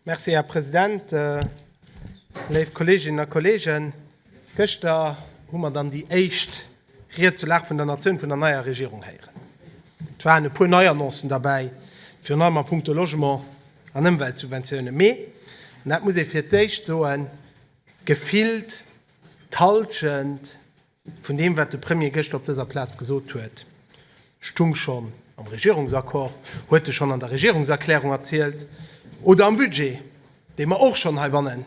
Merci, Här President. Léif Kolleeginnen a Kolleegen, gëschter hu mer dann déi éischt Ried zur Lag vun der Natioun vun der neier Regierung héieren. Et waren e puer nei Annoncen derbäi, virun allem a punkto Logement an Ëmweltsubventiounen. Mee, an dat muss ee fir d'éischt soen, gefillt d'Hallschent Vun deem, wat de Premier gëschter op dëser Plaz gesot huet, stung schonn am Regierungsaccord, huet e schonn an der Regierungserklärung erzielt oder am Budget, dee mer och schonn heibanne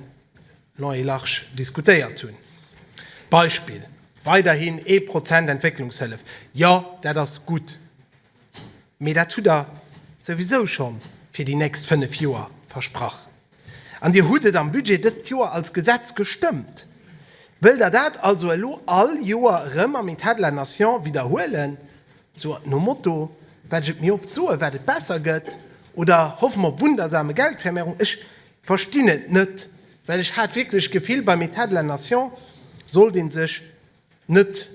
long et large diskutéiert hunn. Beispill, Weiderhin ee Prozent Entwécklungshëllef. Jo, dat ass gutt. Mee dat hutt Der souwisou scho fir déi nächst fënnef Joer versprach. An Dir hutt et am Budget dëst Joer als Gesetz gestëmmt. Wëllt Der dat also elo all Joer erëm am État de la Nation widderhuelen, sou nom Motto, Wat ech et méi oft soen, wat et besser gëtt, oder hoffe mer op wundersame Geldvermehrung? Ech verstinn et net, well ech hat wierklech d'Gefill, beim État de la Nation sollt ee sech net,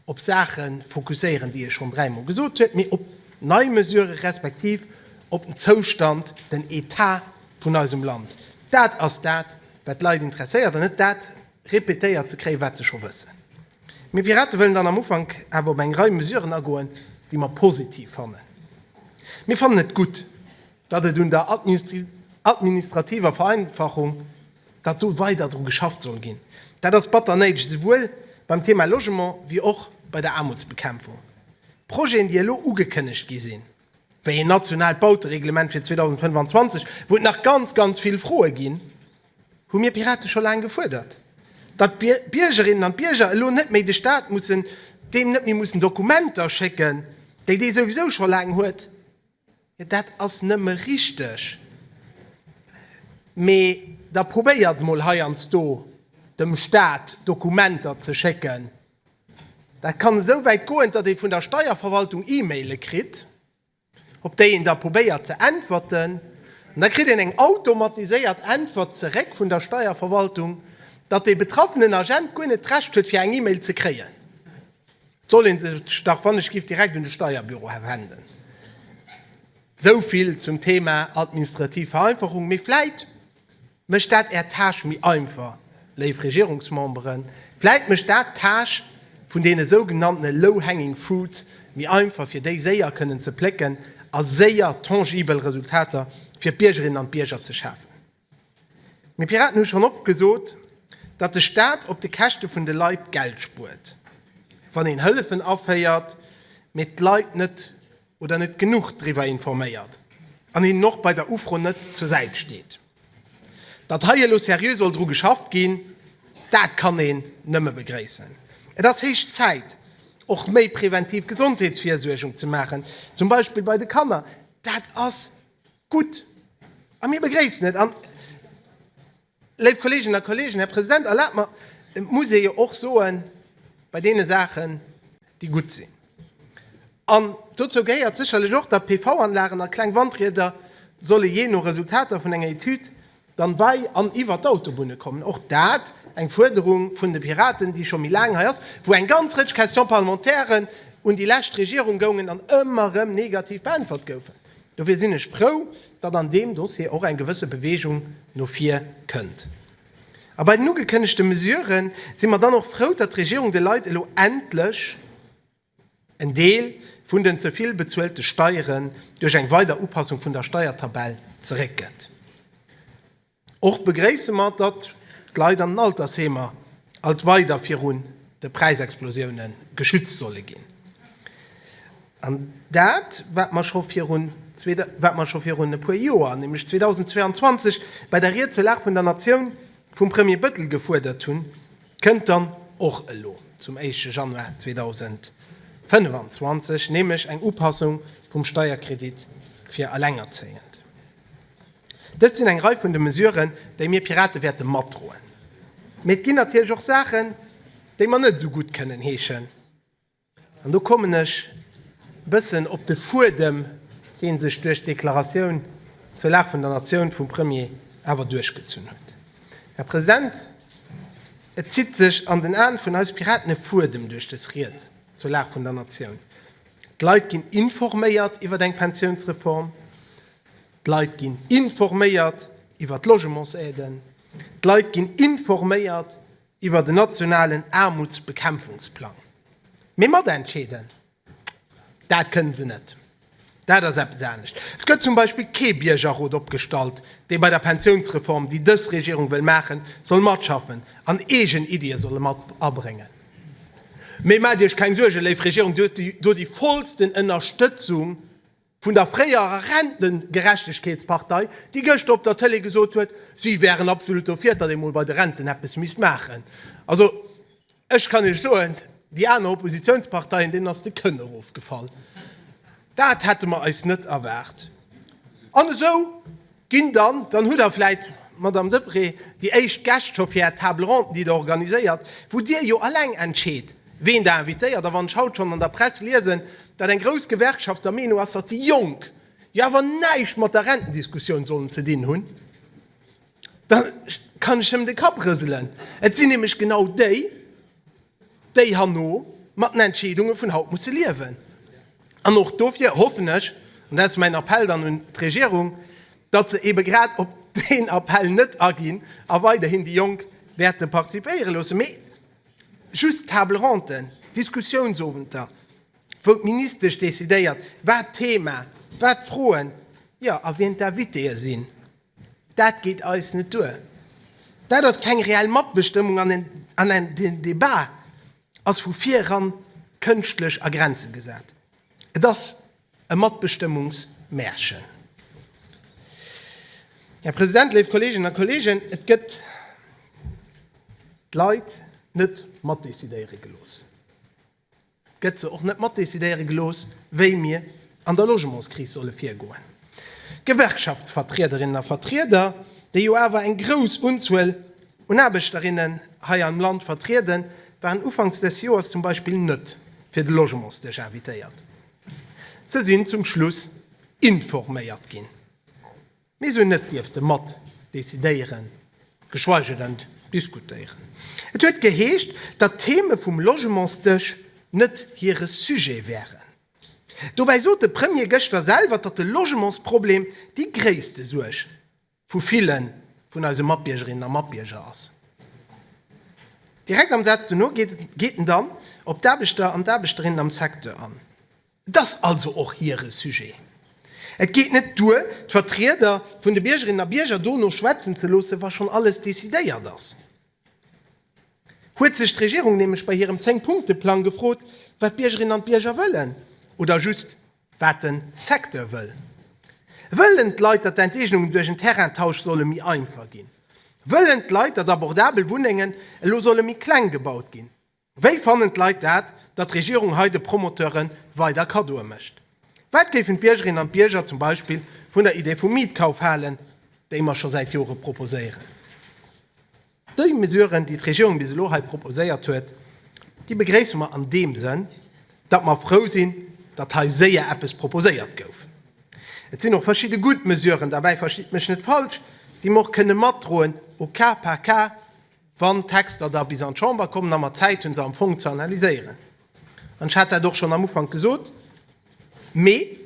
op Saache fokusséieren, déi e schonn dräi Mol gesot huet, mee op nei Mesurë respektiv op den Zoustand, den Etat vun eisem Land. Dat ass dat, wat d'Leit interesséiert an net dat répétéiert ze kréien, wat se scho wëssen. Mir Piraten wëllen dann am Ufank awer op eng Rei Mesuren agoen, déi mer positiv fannen. Mir fannen et gutt, datt et un der administrativer Vereinfachung, datt do weider dru geschafft soll ginn, dat ass batter néideg, esouwuel beim Thema Logement wéi och bei der Aarmutsbekämpfung. Projeten, déi elo ugekënnegt gi sinn, wéi een nationaalt Bautereglement fir 2025, wou et nach ganz, ganz vill Froe ginn, hu mir Piraten scho laang gefuerdert, datt d'Biergerinnen an d'Bierger elo net méi de Staat mussen, deem net méi mussen Dokumenter schécken, déi dee souwisou scho laang huet. Jo, dat ass nëmme richteg. Mee da probéiert mol heiansdo dem Staat Dokumenter ze schécken. Dat kann esou wäit goen, datt ee vun der Steierverwaltung E-Maile kritt, op déi een da probéiert ze äntwerten. An da kritt een eng automatiséiert Äntwert zeréck vun der Steierverwaltung, datt dee betraffenen Agent guer net d'Recht huet, fir eng E-Mail ze kréien. 't soll een sech dach wann ech giff direkt un de Steierbüro wenden. Souvill zum Thema administrativ Vereinfachung, mee vläit mécht dat är Tâche méi einfach, léif Regierungsmemberen, vläit mécht dat d'Tâche vun deene sougenanntene low hanging fruits méi einfach, fir déi séier kënnen ze plécken a séier tangibel Resultater fir d'Biergerinnen an d'Bierger ze schafen. Mir Piraten hu schonn oft gesot, datt de Staat op de Käschte vun de Leit Geld spuert, wann een Hëllefen aféiert, mee d'Leit net oder net genuch driwwer informéiert an hinnen och bei der Ufro net zur Säit steet. Datt hei elo seriö soll dru geschafft ginn, dat kann een nëmme begréissen. Et ass héich Zäit, och méi preventiv Gesondheetsvirsuergung ze maachen, zum Beispill bei de Kanner. Dat ass Gutt. A mir begréissen et. An, léif Kolleeginnen a Kolleegen, Här President, erlaabt mer, et muss ee jo och soen, bei deene Saachen, déi gutt sinn, an dozou gehéiert sécherlech och, datt PV-Anlagen a kleng Wandrieder solle jee no Resultater vun enger Etüd Dann bei an iwwert d'Autobunne kommen, och dat eng Fuerderung vun de Piraten, déi scho méi laang hei ass, wou eng ganz Rëtsch Question-parlementairen un déi lescht Regierung goungen an ëmmer erëm negativ beäntwert goufen. Dofir sinn ech frou, datt an deem Dossier och eng gewësse Beweegung no vir kënnt. A bei den ugekënnegte Mesuren si mer dann och frou, datt d'Regierung de Leit elo endlech en Deel vun den ze vill bezuelte Steieren duerch eng weider Upassung vun der Steiertabell zeréckgëtt. Och begréisse mer, datt d'Leit an den Altersheemer alt weider virun de Präisexplosioune geschützt solle ginn. An dat, wat mer scho virun e puer Joer, nämlech 2022, bei der Ried zur Lag vun der Natioun vum Premier Bëttel gefuerdert hunn, Kënnt dann och elo zum éischte Januar 2025 nämlech eng Upassung vum Steierkredit fir Allengerzéiend. Dëst sinn eng Rei vun de Mesuren, déi mir Pirate wäerte matdroen. Mee et ginn natierlech och Saachen, déi mer net esou gutt kënnen heeschen. An do kommen ech e bëssen op de Fuedem, dee sech duerch d'Deklaratioun zur Lag vun der Natioun vum Premier awer duerchgezunn huet. Här President, et zitt sech an den Aen vun eis Piraten e Fuedem duerch dës Ried zur Lag vun der Natioun. D'Leit ginn informéiert iwwer eng Pensiounsreform, d'Leit ginn informéiert iwwer d'Logementsaiden, d'Leit ginn informéiert, iwwert en nationalen Aarmutsbekämpfungsplang. Mee matentscheeden, dat kënnen se net. Dat ass eppes anescht. Et gëtt zum Beispill kee Biergerrot opgestallt, dee bei der Pensiounsreform, déi dës Regierung wëll maachen, soll matschaffen an eegen Iddie soll mat abréngen. Mee maacht Iech keng Suergen, léif Regierung, Dir hutt déi vollsten Ënnerstëtzung vun der fréierer Rentengerechtegkeetspartei, déi gëschter op der Tëlee gesot huet, si wären absolut dofir, datt ee mol bei de Renten eppes misst maachen. Also, ech kann Iech soen, déi aner Oppositiounsparteien, deenen ass de Kënn erofgefall. Dat hätte mer eis net erwaart. An esou Ginn dann, dann hutt Der vläit, Madame Deprez, déi éischt Gäscht scho fir Är Table ronde, déi Der organiséiert, wou Dir jo alleng entscheet, ween Der invitéiert. A wann ech haut schonn an der Press liesen, datt eng grouss Gewerkschaft der Meenung ass, datt déi Jonk jo awer näischt mat der Rentendiskussioun sollen ze dinn hunn, da kann ech nëmmen de Kapp rëselen. Et sinn nämlech genau déi, déi herno mat den Entscheedunge vun haut musse liewen. An och dofir hoffen ech, an dat ass mäin Appell dann un d'Regierung, datt se eebe grad op deen Appell net aginn a weiderhin déi Jonk wäerte participéiere loossen, mee just Table-ronten, Diskussiounsowenter, wou d'Ministesch decidéiert, wat d'Thema, wat d'Froen, jo, a wien d'Invitéë sinn. Dat geet eis net duer. Dat ass keng reell Matbestëmmung an den Debat ass vu vireran kënschtlech a Grenze gesat. Et ass e Matbestëmmungsmärchen. Här President, léif Kolleeginnen a Kolleegen, et gëtt d'Leit net matdecidéiere gelooss. gëtt se och net matdecidéiere gelooss, wéi mir an der Logementskris solle virgoen. Gewerkschaftsvertriederinnen a vertrieder, déi jo awer eng grouss Unzuel un Aarbechterinnen hei am Land vertrieden, waren ufanks des Joers zum Beispill net fir de Logementsdësch invitéiert. Se sinn zum Schluss informéiert ginn. Mir sou net dierfte mat decidéieren, geschweige denn diskutéieren. Et huet geheescht, datt d'Theme vum Logementsdësch net hire Sujet wären. Dobäi sot de Premier gëschter selwer, datt de Logementsproblem déi gréisste Suerg vu ville vun eise Matbiergerinnen a Matbierger ass. Direkt am Saz dono geet en dann op d'Aarbechter an d'Aarbechterinnen am Secteur an. Et ass also och hire Sujet. Et geet net duer, d'Vertrieder vun de Biergerinnen a Bierger dono schwätzen ze loossen, wa schonn alles decidéiert ass. Huet sech d'Regierung nämlech bei hirem Zéng-Punkte-Plang gefrot, wat d'Biergerinnen an d'Bierger wëllen? Oder just, wat de Secteur wëll? Wëllen d'Leit, datt d'Enteegnungen duerch en Terraintausch solle méi einfach ginn? Wëllen d'Leit, datt abordabel Wunnengen elo solle méi kleng gebaut ginn? Wéi fannen d'Leit dat, datt d'Regierung hei de Promoteure weider Kaddoe mécht? Wat géifen d'Biergerinnen an d'Bierger zum Beispill vun der Idee vum Mietkauf halen, déi mer scho säit Jore proposéieren? Déi Mesuren, déi d'Regierung bis elo hei proposéiert huet, déi begréisse mer an deem Sënn, datt mer frou sinn, datt hei séier eppes proposéiert gouf. Et sinn och verschidde gutt Mesuren derbäi, verstitt mech net falsch, déi mer och kënne matdroen au cas par cas. wann d'Texter da bis an d'Chamber kommen a mer Zäit hunn, se am Fong ze analyséieren. An ech hat dat och schonn am Ufank gesot, mee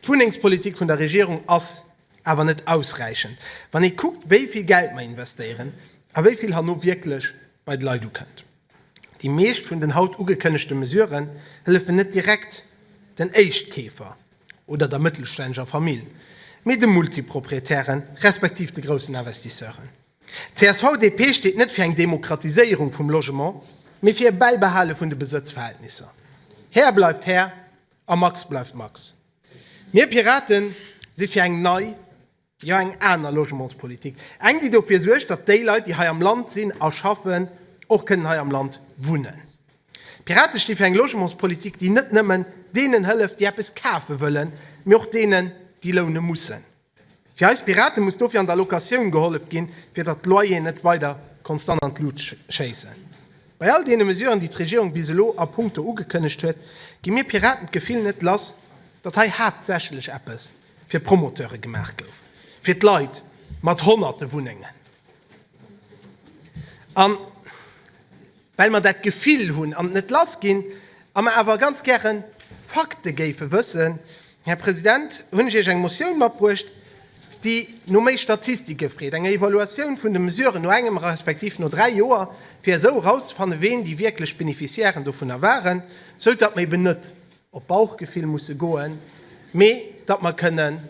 d'Wunnengspolitik vun der Regierung ass awer net ausräichend, wann ee kuckt, wéi vill Geld mer investéieren a wéi vill herno wierklech bei d'Leit ukënnt. Déi meescht vun den haut ugekënnegte Mesurë hëllefen net direkt den Éischtkeefer oder der mëttelstännegger Famill, mee de Multiproprietären, respektiv de groussen Investisseuren. D'CSV-DP steet net fir eng Demokratiséierung vum Logement, mee fir e Bäibehale vun de Besëtzverhältnisser. Här bleift Här a Max bleift Max. Mir Piraten si fir eng nei, jo eng aner Logementspolitik, eng déi dofir suergt, datt déi Leit déi hei am Land sinn a schaffen, och kënnen hei am Land wunnen. D'Pirate sti fir eng Logementspolitik déi net nëmmen deenen hëlleft déi eppes kafe wëllen, mee och deenen déi loune mussen. Fir eis Piraten muss dofir an der Locatioun gehollef ginn, fir datt d'Loyeren net weider konstant an d'Lut schéissen. Bei all deene Mesuren, déi d'Regierung bis elo a punkto ugekënnegt huet, gi mir Piraten d'Gefill net lass, datt hei haaptsächlech eppes fir d'Promoteure gemaach gouf, fir d'Leit mat honnerte Wunnengen. Well mer dat Gefill hunn an et net lass ginn a mer awer ganz gäre Fakte géife wëssen, Här President, hunn ech Iech eng Motioun matbruecht, déi no méi Statistike freet, enger Evaluatioun vun de Mesuren no engem respektiv no dräi Joer, fir esou erauszefannen, ween déi wierklech Beneficiairen dovunner waren, esou datt mer eben net op Bauchgefill musse goen, mee datt mer kënnen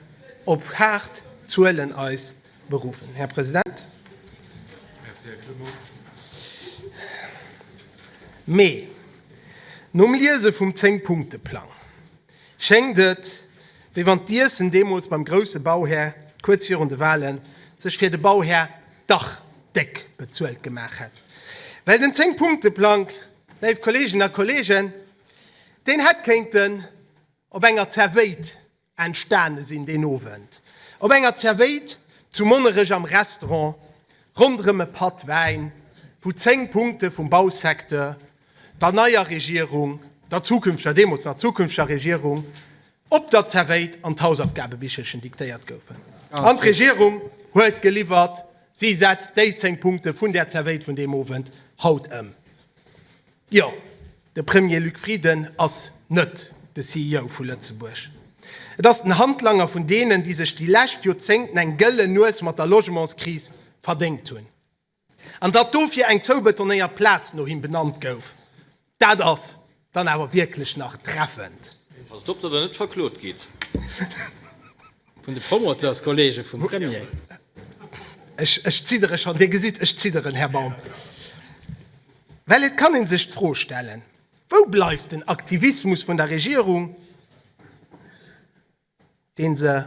op haart Zuelen eis beruffen. Här President, mee nom Liese vum Zéng-Punkte-Plang schéngt et, wéi wann d'Iessen deemools beim grousse Bauhär kuerz virun de Wahle sech fir de Bauhär dach déck bezuelt gemaach hätt. Well den Zéng-Punkte-Plang, léif Kolleeginnen a Kolleegen, deen hätt kéinten op enger Zervéit entstane sinn deen Owend op enger Zervéit zu Monnerech am Restaurant ronderëm e Patt Wäin, wou 10 Punkte vum Bausecteur, der neier Regierung, der zukünfteger, deemools nach zukünfteger Regierung, op der Zervéit an d'Hausaufgabebichelchen diktéiert goufen. An d'Regierung huet geliwwert, si setzt déi 10 Punkte vun där Zervéit vun deem Owend haut ëm. Jo. De Premier Luc Frieden ass net de CEO vu Lëtzebuerg. Et ass den Handlanger vun deenen, déi sech déi lescht Joerzéngten eng gëllen Nues mat der Logementskris verdéngt hunn. An datt dofir eng zoubetonéiert Plaz no him benannt gouf, dat ass dann awer wierklech nach treffend. Passt op, datt Der net verklot gitt vun de Promoteurskollege vum Premier. Ech zidderen schonn, Dir gesitt, ech zidderen, Här Baum. Well et kann ee sech d'Fro stellen, Wou bleift den Aktivismus vun der Regierung, dee se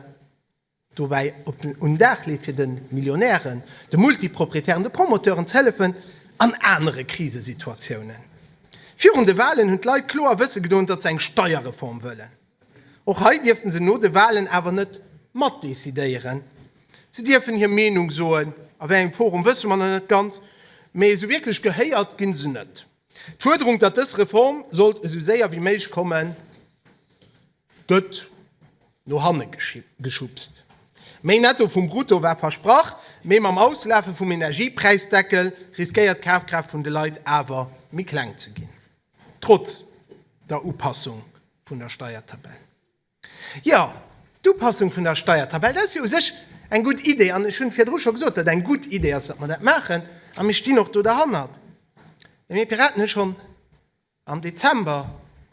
dobäi op den un den Dag leet, fir de Millionären, de Multiproprietären, de Promoteuren ze hëllefen an anere Krisesituatiounen? Virun de Walen hunn d'Leit kloer wësse gedoen, datt se eng Steierreform wëllen. Och hei dierften se no de Wahlen awer net mat decidéieren. Se dierfen hir Meenung soen, a wéi engem Forum wësse mer nach net ganz, mee esou wierklech gehéiert ginn se net. D'Fuerderung, datt dës Reform sollt esou séier wéi méiglech kommen, gëtt no hanne geschubst. Méi Netto vum Brutto war versprach, mee mam Auslafe vum Energiepräisdeckel riskéiert d'Kafkraaft vun de Leit awer méi kleng ze ginn. Trotz der Upassung vun der Steiertabell. Jo, d'Upassung vun der Steiertabell, dat ass jo u sech eng gutt Idee. An ech hu virdru scho gesot, datt eng gutt Idee ass, datt mer dat maachen. A mir stinn och do derhannert. Mee mir Piraten hu schonn am Dezember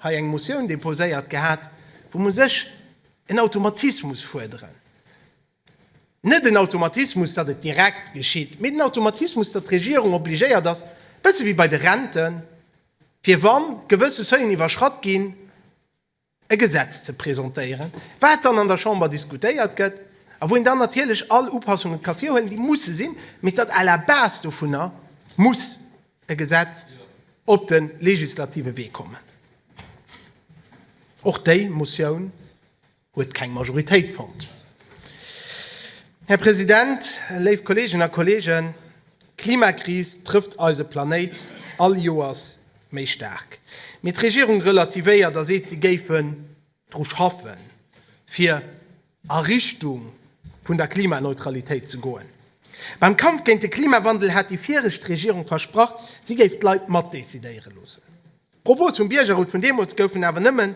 hei eng Motioun deposéiert gehat, wou mer u sech en Automatismus fuerderen. Net en Automatismus, datt et direkt geschitt, mee den Automatismus, datt d'Regierung obligéiert ass, e bësse wéi bei de Renten, fir wa gewësse Seuilen iwwerschratt ginn, e Gesetz ze presentéieren, wat dann an der Chamber diskutéiert gëtt a wou een dann natierlech all Upassunge ka virhuelen, déi musse sinn, mee datt à la base dovunner muss e Gesetz op de legislative Wee kommen. Och déi Motioun. huet keng Majoritéit fonnt. Här President, léif Kolleeginnen a Kolleegen, d'Klimakris trëfft eise Planéit all Joers méi staark. Mee d'Regierung relativéiert a seet, si géifen dru schaffen, fir a Richtung vun der Klimaneutralitéit ze goen. Beim Kampf géint de Klimawandel hat déi viregt Regierung versprach, si géif d'Leit matdecidéiere loossen. D'Propose vum Biergerrot vun deemools goufen awer nëmmen,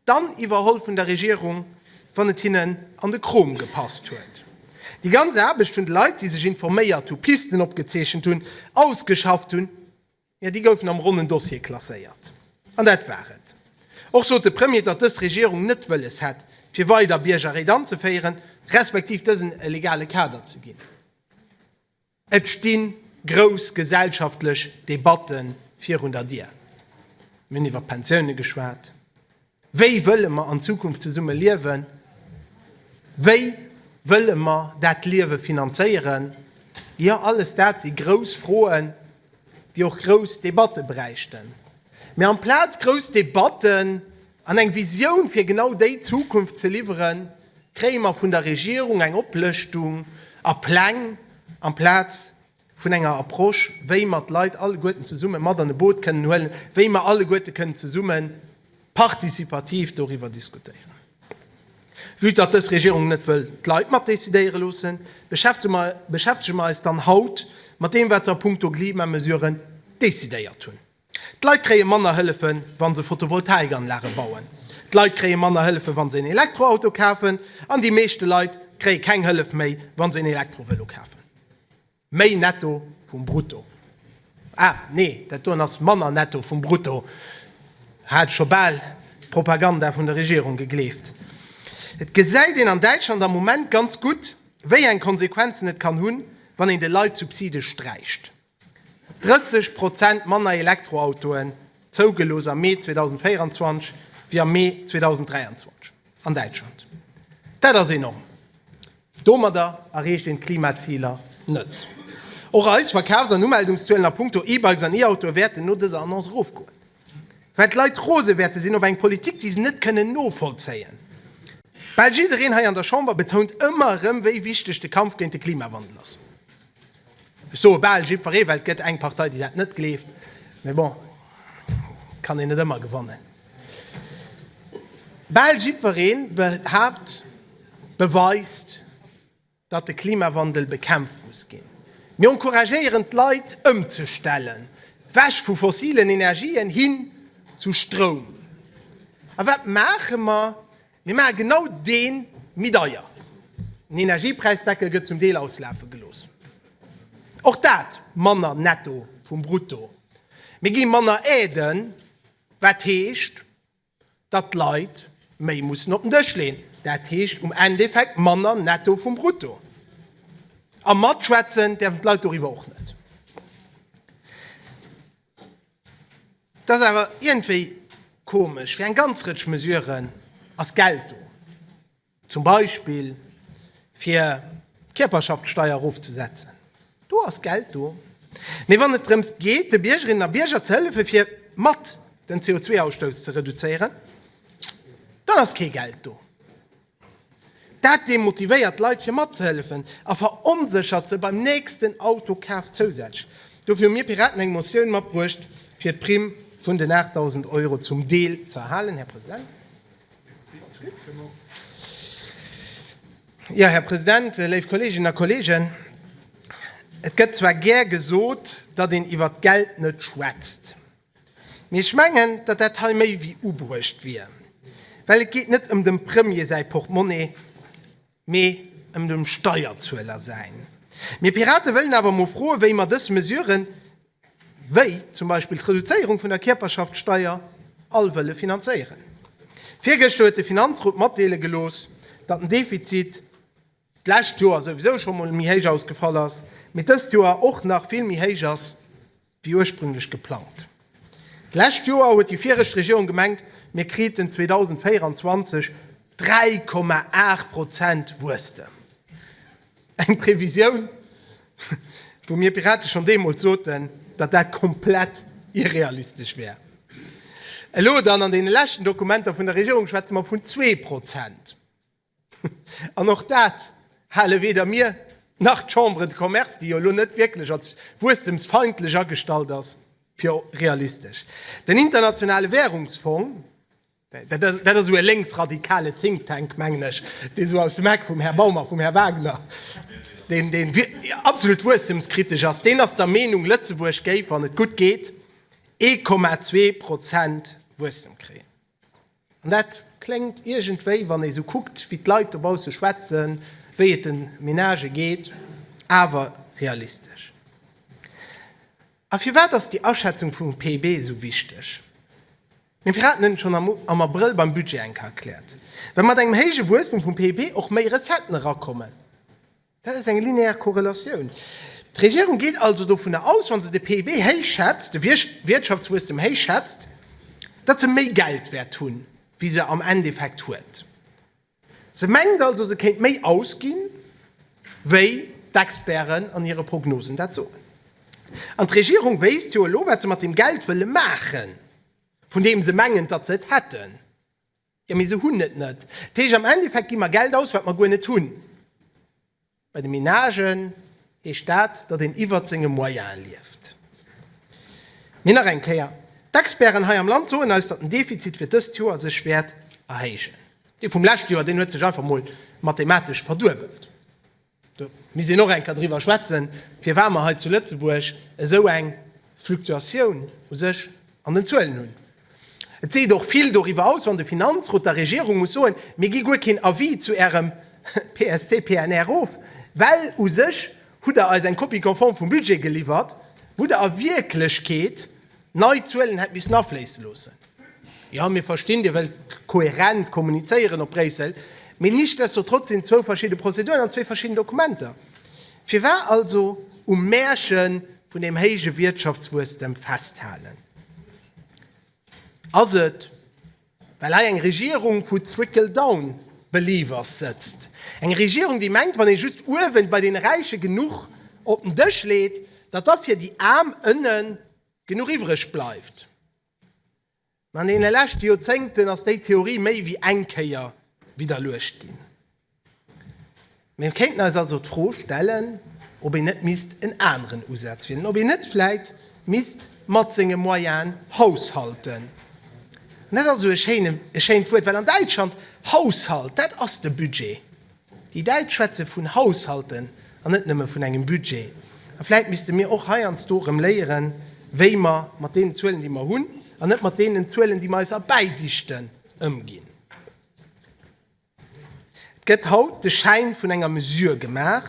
Dann iwwerholl vun der Regierung, wann et hinnen an de Krom gepasst huet. Déi ganz Aarbecht vun de Leit, déi sech informéiert hunn, Pisten opgezeechent hunn, ausgeschafft hunn, jo, déi goufen am ronnen Dossier klasséiert. An dat war et. Och sot de Premier, datt dës Regierung net wëlles hätt, fir weider Biergerréit anzeféieren, respektiv dësen e legale Kader ze ginn. Et sti grouss gesellschaftlech Debatte virun der Dier. Mir hunn iwwer d'Pensioune geschwat. Wéi wëlle mer an Zukunft zesumme liewen? Wéi wëlle mer dat Liewe finanzéieren? Jo, alles dat si grouss Froen, déi och grouss Debatte bräichten. Mee amplaz grouss Debatten An eng Visioun fir genau déi Zukunft ze liwweren, kréie mer vun der Regierung eng Oplëschtung a Pläng, amplaz vun enger Approche, wéi mer d'Leit alleguerten zesumme mat an e Boot kënnen huelen, wéi mer alleguerte kënnen zesumme participativ doriwwer diskutéieren. Vue datt dës Regierung net wëll d'Leit matdecidéiere loossen, beschäftege mer eis dann haut mat deem, wat se a puncto Klimamesuren decidéiert hunn. D'Leit kréie manner Hëllefe wa se Photovoltaikanlage bauen. D'Leit kréie manner Hëllefe wa se en Elektroauto kafen. An déi meeschte Leit kréie keng Hëllef méi wa se en Elektrovëlo kafen. Méi Netto vum Brutto, ah nee dat doen ass manner Netto vum Brutto, hat ech scho bal d'Propaganda vun der Regierung gegleeft. Et gesäit een an Däitschland am Moment ganz gutt wéi eng Konsequenzen et kann hunn, wann een de Leit d'Subside sträicht. 30 Prozent manner Elektroautoen zougelooss am Mee 2024 wéi am Mee 2023 an Däitschland. Dat ass enorm. Domadder erreecht een d'Klimaziler net. Och eis Verkafs an Umeldungszuelen a Punkto E-Bikes an E-Autoe wäerten no dëser Annonce erofgoen, well d'Leit rose wäerte sinn op eng Politik, déi se net kënnen novollzéien. Bal jiddereen hei an der Chamber betount ëmmer erëm, wéi wichteg de Kampf géint de Klimawandel ass. Ech soe bal jiddweree, well et gëtt eng Partei, déi dat net gleeft. Mee bon, et kann een net ëmmer gewannen. Bal jiddweree behaapt, beweist, datt de Klimawandel bekämpft muss ginn. Mir encouragéieren d'Leit ëmzestellen, wech vu fossilen Energien hin zu Stroum. A wat maache mer? Mir maache genau dee méi deier. Den Energiepräisdeckel gëtt zum Deel auslafe gelooss. Och dat manner Netto vum Brutto. Mir gi manner Aiden, wat heescht, datt d'Leit méi mussen op den Dësch leeën. Dat heescht um Endeffekt manner Netto vum Brutto. A matschwätzen däerfen d'Leit doriwwer och net. Et ass awer iergendwéi komesch, fir eng ganz Rëtsch Mesuren ass Geld do, zum Beispill fir d'Kierperschaftssteier erofzesetzen, do ass Geld do, mee wann et drëms geet de Biergerinnen a Bierger ze hëllefe fir mat den CO2-Ausstouss ze reduzéieren, dann ass kee Geld do. Dat demotivéiert d'Leit fir matzehëllefen a veronséchert se beim nächsten Autokaf zousätzlech. Dofir hu mir Piraten eng Motioun matbruecht, fir d'Primm vun den 8.000 Euro zum Deel ze erhalen. Här President, jo, Här President, léif Kolleeginnen a Kolleegen, et gëtt zwar gär gesot, datt een iwwert d'Geld net schwätzt. Mee ech mengen, datt dat hei méi wéi ubruecht wier, well et geet net ëm dem Premier säi Portmonni, mee ëm dem Steierzueler säin. Mir Pirate wëllen awer emol froen, wéi mer dës Mesuren, wéi zum Beispill d'Reduzéierung vun der Kierperschaftssteier, all wëlle finanzéieren. Virgëschter huet de Finanzrot matdeele gelooss, datt den Defizit, d'lescht Joer souwisou scho mol méi héich ausgefall ass, mee dëst Joer och nach vill méi héich ass wéi ursprünglech geplangt. D'lescht Joer huet déi viregt Regierung gemengt, mir kriten 2024 3,8 Prozent Wuesstem. Eng Previsioun, wou mir Pirate schonn deemools soten, datt dat komplett irrealistesch wär. Elo dann, an deene leschten Dokumenter vun der Regierung, schwätze mer vun zwee Prozent. An och dat hale weder mir nach d'Chambre de Commerce, déi jo elo net wierklech als wuesstemsfeindlech agestallt ass, fir realistesch. Den Internationale Währungsfong, dat ass esou e lénksradikale Think Tank, mengen ech, dee sou aus dem Eck vum Här Baum a vum Här Wagner, deen absolut wuesstemskritesch ass, deen ass der Meenung, Lëtzebuerg géif, wann et gutt geet, 1,2 Prozent Wuesstem kréien. An dat kléngt iergendwéi, wann ee sou kuckt, wéi d'Leit dobausse schwätzen, wéi et de Menagë geet, awer realistesch. A firwat ass déi Aschätzung vum PIB esou wichteg? Mir Piraten hunn et schonn am Abrëll beim Budget eng Kéier erkläert, Well mat engem héije Wuesstem vum PIB och méi Recetten erakommen, Dat ass eng linear Korrelatioun. D'Regierung geet also dovunner aus, wa se de PIB héich schätzt, de Wirtschaftswuesstem héich schätzt, datt se méi Geld wäert hunn, wéi se am Endeffekt huet. Se mengt also, se kéint méi ausginn, wéi d'Experten an hire Prognosen dat soen. An d'Regierung wéisst jo elo, wat se mat deem Geld wëlle maachen, vun deem se mengen, datt se et hätten. Jo, mee se hunn et net. Dat heescht, am Endeffekt gi mer Geld aus, wat mer guer net hunn. Bei de Menagen heescht dat, datt een iwwert senge Moyene lieft. Mee nach eng Kéier, d'Experten hei am Land soen eis, datt den Defizit fir dëst Joer sech wäert erhéijen. Dee vum leschte Joer, deen huet sech einfach mol mathematesch verduebelt. Do misst een och enker driwwer schwätzen, firwat mer hei zu Lëtzebuerg esou eng Fluktuatioun u sech an den Zuelen hunn. Et seet och vill doriwwer aus, wann de Finanzrot der Regierung muss soen, Mir gi guer keen Avis zu Ärem PST-PNR of, well u sech hutt Der eis eng Copie conforme vum Budget geliwwert, wou Der a Wierklechkeet Nei Zuelen hätt missen afléisse loossen. Jo, mir verstinn, Dir wëllt kohärent kommunizéieren op Bréissel, mee nichtsdestotrotz sinn et zwou verschidde Prozeduren an zwee verschidden Dokumenter. Firwat also um Märche vun dem héije Wiertschaftswuesstem festhalen? Ass et. Well hei eng Regierung vu Trickle down believers sëtzt. Eng Regierung, déi mengt, wann ee just uewen bei deene Räiche genuch op den Dësch leet, datt da fir déi Aarm ënnen genuch iwwreg bleift. Mä an deene leschte Joerzéngten ass déi Theorie méi wéi eng Kéier widderluecht ginn. Mir kéinten eis also d'Fro stellen, ob een net misst en aneren Usaz wielen, ob een net vläit misst mat senge Moyene haushalten. An dat ass esou e schéine, e schéint Wuert, well an Däitschland, Haushalt, dat ass de Budget. Déi Däitsch schwätze vun haushalten an net nëmme vun engem Budget. A vläit misste mir och heiansdo erëm léieren, wéi mer mat deenen Zuelen, déi mer hunn, an net mat deenen Zuelen, déi mer eis erbäidichten, ëmginn. Et gëtt haut de Schäin vun enger Mesure gemaach,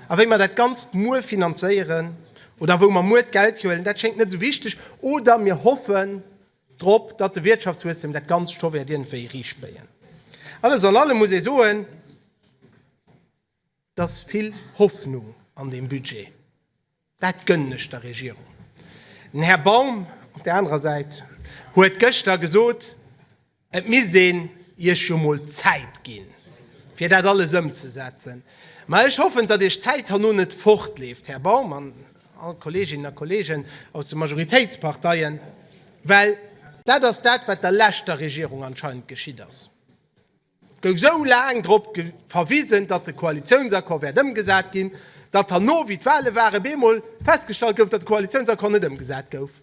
a wéi mer dat Ganzt muer finanzéieren oder wou mer muer d'Geld hierhuelen, dat schéngt net esou wichteg, oder mir hoffen drop, datt de Wirtschaftswuesstem dat Ganzt scho wäert iergendwéi ericbéien. Alles an allem muss ee soen, et ass vill Hoffnung an deem Budget. Dat gënnen ech der Regierung. Den Här Baum op där anerer Säit huet gëschter gesot, et misst een Iech jo mol Zäit ginn, fir dat alles ëmzesetzen. Mä ech hoffen, datt Iech d'Zäit herno net fortleeft, Här Baum an all Kolleeginnen a Kolleegen aus de Majoritéitsparteien, well dat ass dat, wat der leschter Regierung anscheinend geschitt ass. Et gouf esou laang drop verwisen, datt de Koalitiounsaccord wäert ëmgesat ginn, datt herno, wéi d'Wale waren, op eemol festgestallt gouf, datt de Koalitiounsaccord net ëmgesat gouf.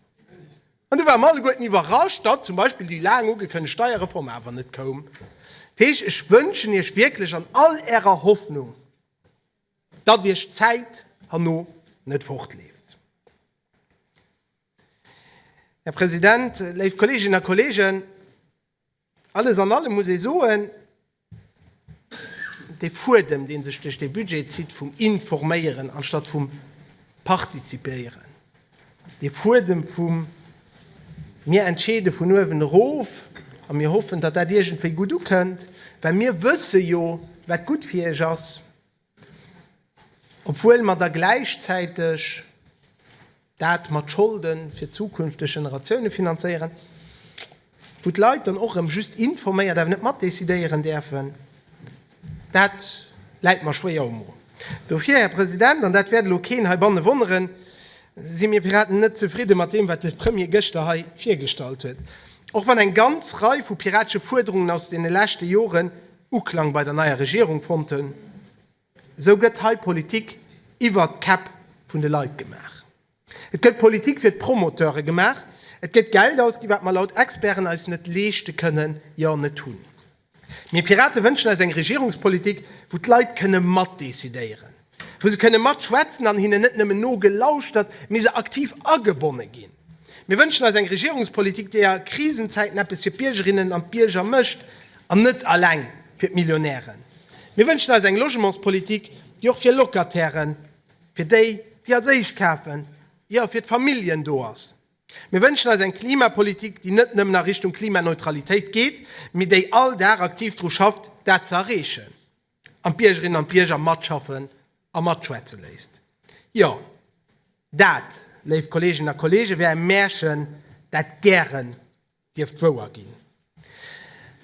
An du ware mer alleguerten iwwerrascht, datt zum Beispill déi laang ugekënnegt Steierreform awer net koum. Dat heescht, ech wënschen Iech wierklech an all Ärer Hoffnung, datt Iech d'Zäit herno net fortleeft. Här President, léif Kolleeginnen a Kolleegen, Alles an allem muss ee soen, dee Fuedem, dee sech duerch dee Budget zitt vum Informéieren anstatt vum Partizipéieren, dee Fuedem vum Mir entscheede vun uewen erof a mir hoffen, datt dat iergendwéi gutt ukënnt, well mir wësse jo, wat gutt fir Iech ass. Obwuel mer da gläichzäiteg dat mat Scholde fir zukünfteg Generatioune finanzéieren, wou d'Leit dann och erëm just informéiert, awer net matdecidéieren däerfen, dat läit mer schwéier um Mo. Dofir, Här President, an dat wäert elo keen heibanne wonneren, si mir Piraten net zefridde mat deem, wat de Premier gëschter hei virgestallt huet, och wann eng ganz Rei vu piratesche Fuerderungen aus deene leschte Joren, Uklang bei der neier Regierung fonnt hunn, esou gëtt hei Politik iwwer d'Käpp vun de Leit gemaach. Et gëtt Politik fir d'Promoteure gemaach, et gëtt Geld ausgi wat mer laut Experten eis net leeschte kënnen, jo net hunn. Mir Pirate wënschen eis eng Regierungspolitik, wou d'Leit kënne matdecidéieren. wou se kënne matschwätzen an hinnen net nëmmen nogelauschtert, mee se aktiv agebonne ginn. Mir wënschen eis eng Regierungspolitik, déi a Krisenzäiten eppes fir d'Biergerinnen an d'Bierger mécht an net eleng fir d'Millionären. Mir wënschen eis eng Logementspolitik, déi och fir Locatairen, fir déi, déi als éischt kafen, jo, fir d'Familljen do ass. Mir wënschen eis eng Klimapolitik, déi net nëmmen a Richtung Klimaneutralitéit geet, mee déi all Dag aktiv dru schafft, dat ze erreechen. an d'Biergerinnen an d'Bierger matschaffen a matschwätze léisst. Jo, dat, léif Kolleeginnen a Kolleegen, wär e Märchen, dat gären dierft wouer ginn.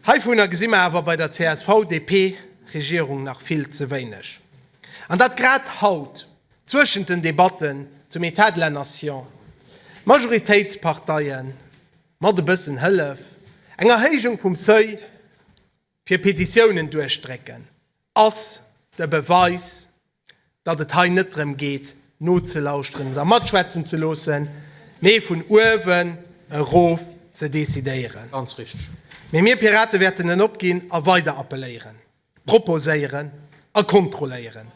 Heivunner gesi mer awer bei der CSV-DP-Regierung nach vill ze wéineg. An dat grad haut, zwëschent den Debatten zum État de la Nation, Majoritéitsparteien, mat e bëssen Hëllef, eng Erhéijung vum Seuil, fir Petitiounen duerchdrécken, ass de Beweis, datt et hei net drëm geet, nozelauschteren oder matschwätzen ze loossen, mee vun uewen erof ze decidéieren. Ganz richteg. Mee mir Pirate wäerten en opginn a weider appelléieren, proposéieren a kontrolléieren.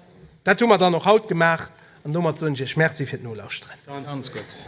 Dat hu mer dann och haut gemaach an domat soen ech Iech Merci fir d'Nolauschteren. Ganz gutt.